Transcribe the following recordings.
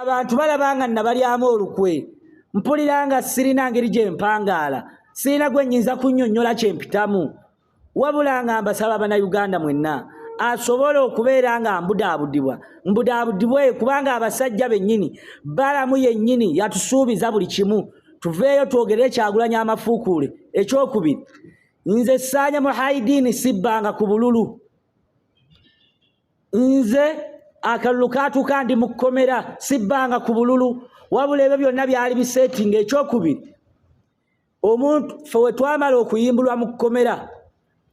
abantu balaba nga nabalyamu olukwe mpulira nga sirina ngeri gye mpangaala sirina gwe nyinza kunnyonnyola kye mpitamu wabula nga mbasaba bannayuganda mwenna asobola okubeera nga mbudaabudibwa mbudaabudibwe kubanga abasajja bennyini balamu yennyini yatusuubiza buli kimu tuveeyo twogerere kyagulanya amafuukuule ekyokubiri nze saanya muhaidiini sibbanga ku bululu nze akalulu kaatuuka ndi mu kkomera sibbanga ku bululu wabula ebyo byonna byali biseetinga ekyokubiri omuntu fe we twamala okuyimbulwa mu kkomera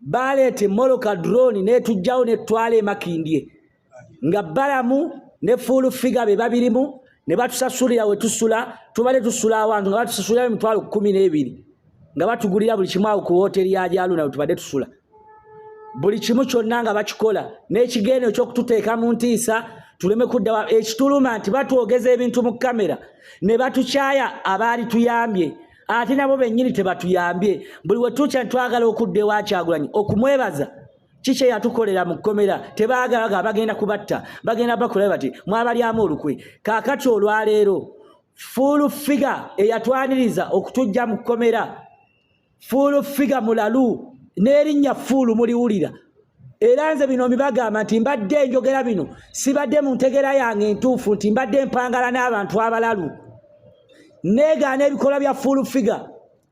baleeta emoloka drone netujjawo netwala emakindye nga balamu ne fuulu figa be babirimu ne batusasulira we tusula tubale tusula awantu nga batusasulira emitwalo kumi n'ebiri nga batugulira buli kimu awo ku wooteeri ya gyaluna we tubadde tusula buli kimu kyonna nga bakikola n'ekigendo ekyokututeeka mu ntiisa tuleme kuddawa ekituluma nti batwogeza ebintu mu kamera ne batukyaya abaali tuyambye ate nabo bennyini tebatuyambye buli wetukya ntitwagala okudda ewakyagulanyi okumwebaza kikye yatukolera mu kkomera tebaagala ga bagenda kubatta bagenda bakolae bati mwabalyamu olukwe kaakati olwaleero fuulu figa eyatwaniriza okutujja mu kkomera fuulu figa mulalu n'erinnya fuulu muliwulira era nze bino mbibagamba nti mbadde enjogera bino sibadde mu ntegera yange entuufu nti mbadde mpangala n'abantu abalalu negaana ebikolwa bya fuulu figa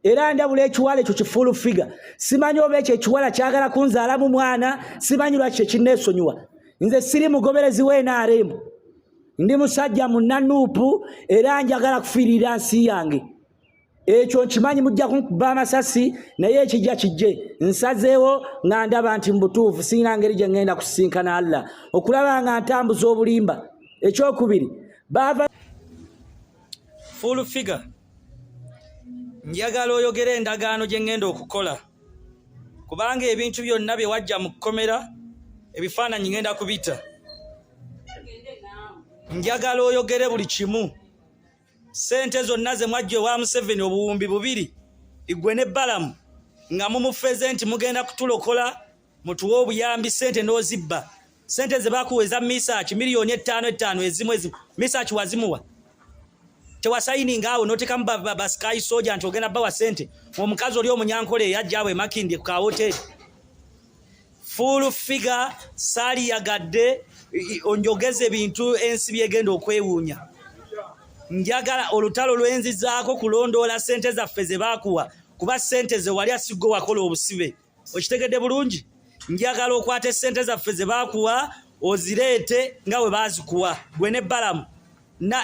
era ndabula ekiwala ekyo kifuulu figa simanyi oba ekyo ekiwala kyagala kunzaalamu mwana simanyi lwaki kyekinneesonyiwa nze siri mugoberezi w'nrm ndi musajja munanuupu era njagala kufiirira nsi yange ekyo nkimanyi mujja kunkuba amasasi naye ekijja kijje nsazeewo nga ndaba nti mubutuufu sirina ngeri gye ŋŋenda kusisinkana allah okulaba nga ntambuza obulimba ekyokubiri baava full figure njagala oyogera endagaano gye ŋŋenda okukola kubanga ebintu byonna bye wajja mu kkomera ebifaananyi ŋŋenda kubita njagala oyogere buli kimu sente zonna ze mwajja ewa museveni obuwumbi bubiri igwe ne balamu nga mumufeze nti mugenda kutulokola mutuwe obuyambi sente n'ozibba sente ze bakuwa eza misaki miliyoni ettaano ettaano ezimu ezimu misaki wazimuwa tewasayininga awo notekamu basikayi soja nti ogenda bawa sente omukazi oli omunyankole eyajja awo emakindye ku kawoteri full figure sali yagadde onjogeze bintu ensi byegenda okwewuunya njagala olutalo lwenzizaako kulondoola sente zaffe ze baakuwa kuba sente ze wali asigwe wakola obusibe okitegedde bulungi njagala okwata esente zaffe ze baakuwa ozireete nga we baazikuwa gwe ne balamu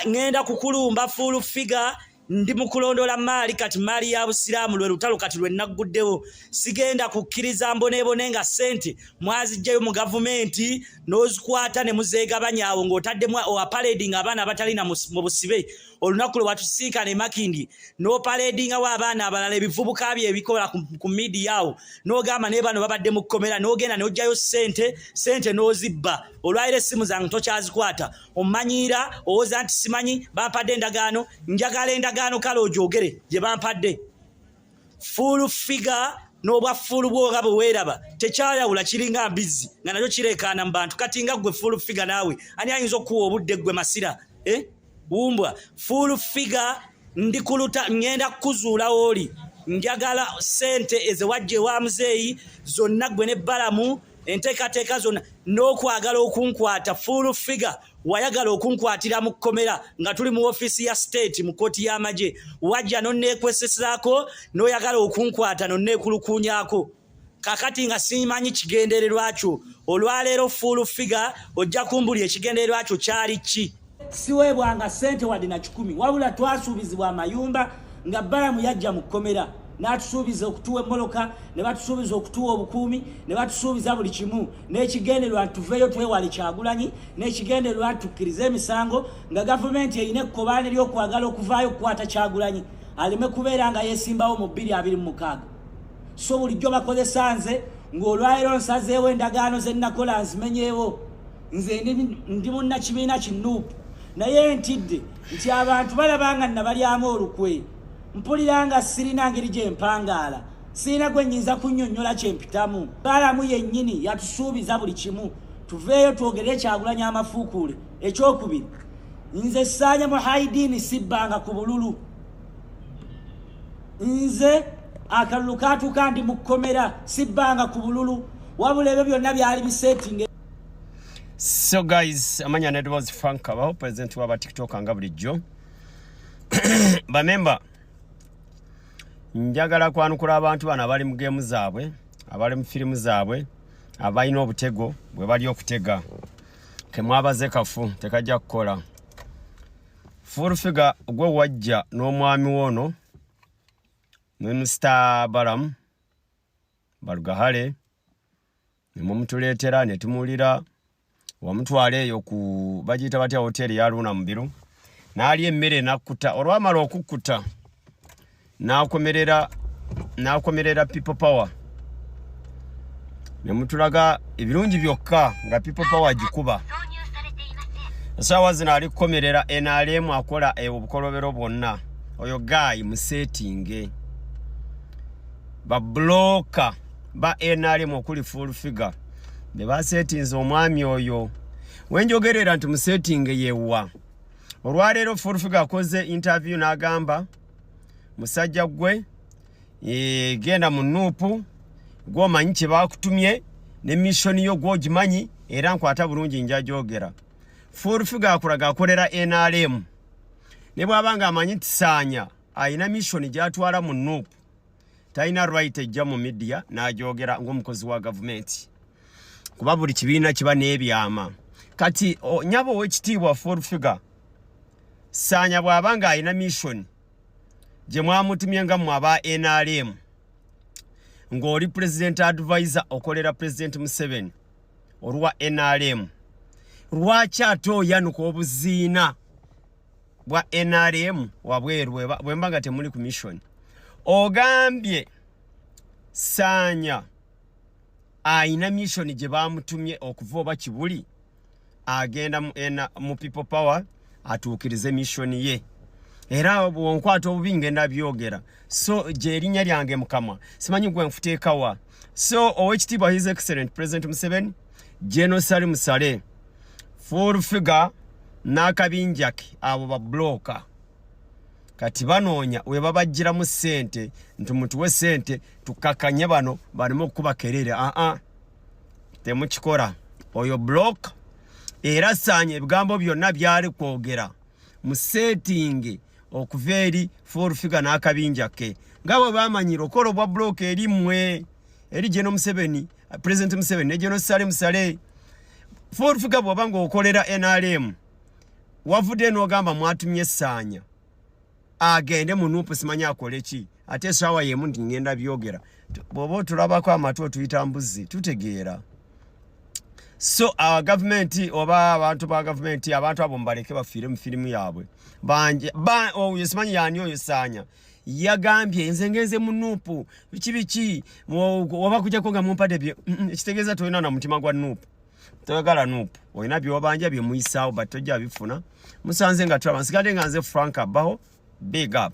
ŋenda kukulumba full figure ndi mu kulondoola maali kati maali ya busiraamu lwe lutalo kati lwe nagguddewo sigenda kukkiriza mboneebone nga ssente mwaziggyayo mu gavumenti n'ozikwata ne muzeegabanya awo ng'otaddemu opaledinga abaana abatalina mu busibe olunaku lwe watusisinkana emakindi n'opaledingawo abaana abalala ebivubuka bye ebikola ku midiya awo n'ogamba naye bano babadde mu kkomera n'ogenda n'oggyayo ssente ssente n'ozibba olwayira essimu zange tokyazikwata omanyiira owoza nti simanyi bampadde endagaano njagala endagaano kale ogyogere gye bampadde full figure n'obwa fuulu bwoga bwe weeraba tekyayawula kiringa mbizzi nga nakyo kireekaana mu bantu kati nga ggwe full figure naawe ani ayinza okukuwa obudde ggwe masira eh? wumbwa full figure ndi kuluta ŋŋenda kukuzuula wooli njagala sente ezewajja ewa muzeeyi zonna gwe ne balamu enteekateeka zonna n'okwagala okunkwata full figure wayagala okunkwatira mu kkomera nga tuli mu ofiisi ya state mu kkooti y'amagye wajja nonneekwesesaako n'oyagala okunkwata nonneekulukuunyako kakati nga simanyi kigendererwa kyo olwaleero full figure ojja kumbuli ekigendererwa kyo kyali ki siweebwanga ssente wadde na kikumi wabula twasuubizibwa amayumba nga balamu yajja mu kkomera n'atusuubiza okutuwa emmoloka ne batusuubiza okutuwa obukuumi ne batusuubiza buli kimu n'ekigendererwa tuveeyo twewale kyagulanyi n'ekigendererwa tukkirize emisango nga gavumenti erina ekkobaane ly'okwagala okuvaayo okukwata kyagulanyi aleme kubeera nga yeesimbawo mu bbiri abiri mu mukaaga so bulijjo bakozesa nze ng'olwaliro nsazeewo endagaano ze nnakola nzimenyeewo nze ndi munnakibiina ki nup naye ntidde nti abantu balaba nga nabalyamu olukwe mpulira nga sirina ngeri gye mpangaala sirina gwe nyinza kunnyonnyola kye mpitamu baalamu yennyini yatusuubiza buli kimu tuveeyo twogere ekyagulanya amafuukuule ekyokubiri nze saanya mu haidiini sibbanga ku bululu nze akalulu kaatuuka ndi mu kkomera sibbanga ku bululu wabula ebyo byonna byali biseetinge so guys amanya nedwas frank kabaho president waba tiktok nga bulijjo bamemba njagala kwanukula abantu bano abali mu gemu zaabwe abali mu firimu zaabwe abalina obutego bwe bali okutega kemwabaze kafu tekajja kukola fulfiga gwe wajja n'omwami wono ne mr balamu balugahale ne mumutuleetera ne tumuwulira wamutwala eyo ku bagiyita batya hoteeri ya luuna mubiru n'alya emmere n'akkuta olwamala okukkuta n'akomerera n'akomerera people power ne mutulaga ebirungi byokka nga people power agikuba esaawa zino ali kukomerera nrm akola e obukolobero bwonna oyo gaayi museetinge babuloka ba nrm okuli full figure be basetinze omwami oyo wenjogerera nti musetinge yewa olwaleero full figure akoze interview n'agamba musajja gwe e, genda mu nuupu gwomanyi kye bakutumye ne missoni yo gwogimanyi era nkwata bulungi njagyogera full figure akulaga akolera nrm ne bwaba nga amanyi tisaanya alina missoni gyatwala mu nuupu talina right ejja mu midiya n'agyogera ng'omukozi wa gavumenti kuba buli kibiina kiba n'ebyama kati nyaba ow'ekitiibwa full figure saanya bw'aba ng'alina mission gye mwamutumye nga mwe aba nrm ng'oli president advisor okolera president museveni olwa nrm lwaki ate oyanuka obuziina bwa nrm wabweru bwemba nga temuli ku mission ogambye saanya ayina mission gye bamutumye okuva oba kibuli agenda mu people power atuukirize mission ye era bwonkwata obubi ngenda byogera so gyerinnya lyange mukama simanyi gwe nfuteekawa so owekitiibwa his excellent president museveni General Salim Saleh full figure n'akabinja ke abo babuloka kati banoonya we babajjiramu ssente nti mutuwe ssente tukakanye bano baleme okukuba kerere aa uh -uh. temukikola oyo buloka era saanya ebigambo byonna byali kwogera mu seetingi okuva eri full figure n'akabinja ke nga bwe bamanyira okola obwa buloka eri mmwe eri gye n'omuseveni uh, president museveni ne general salim saleh full figure bwaba ng'okolera nrm wavudde n'ogamba mwatumye saanya agende mu nupu simanya akole ki ate esaawa yemu nti ngenda byogera bwoba otulabako amatu otuyita mbuzi tutegeera so uh, gavumenti oba abantu ba gavumenti abantu abo mubaleke bafiire mu firimu yaabwe banje ba, oh, simanyi yani oyo saanya yagambye nze ngenze mu nuupu biki biki oba kujako nga mumpade bye mm, mm, ekitegeeza tolina na mutima gwa nuupu toyagala nuupu olina byewabanja byemuyisaawo but tojja bifuna musanze nga tulaba nsigadde nga nze frank abaho big up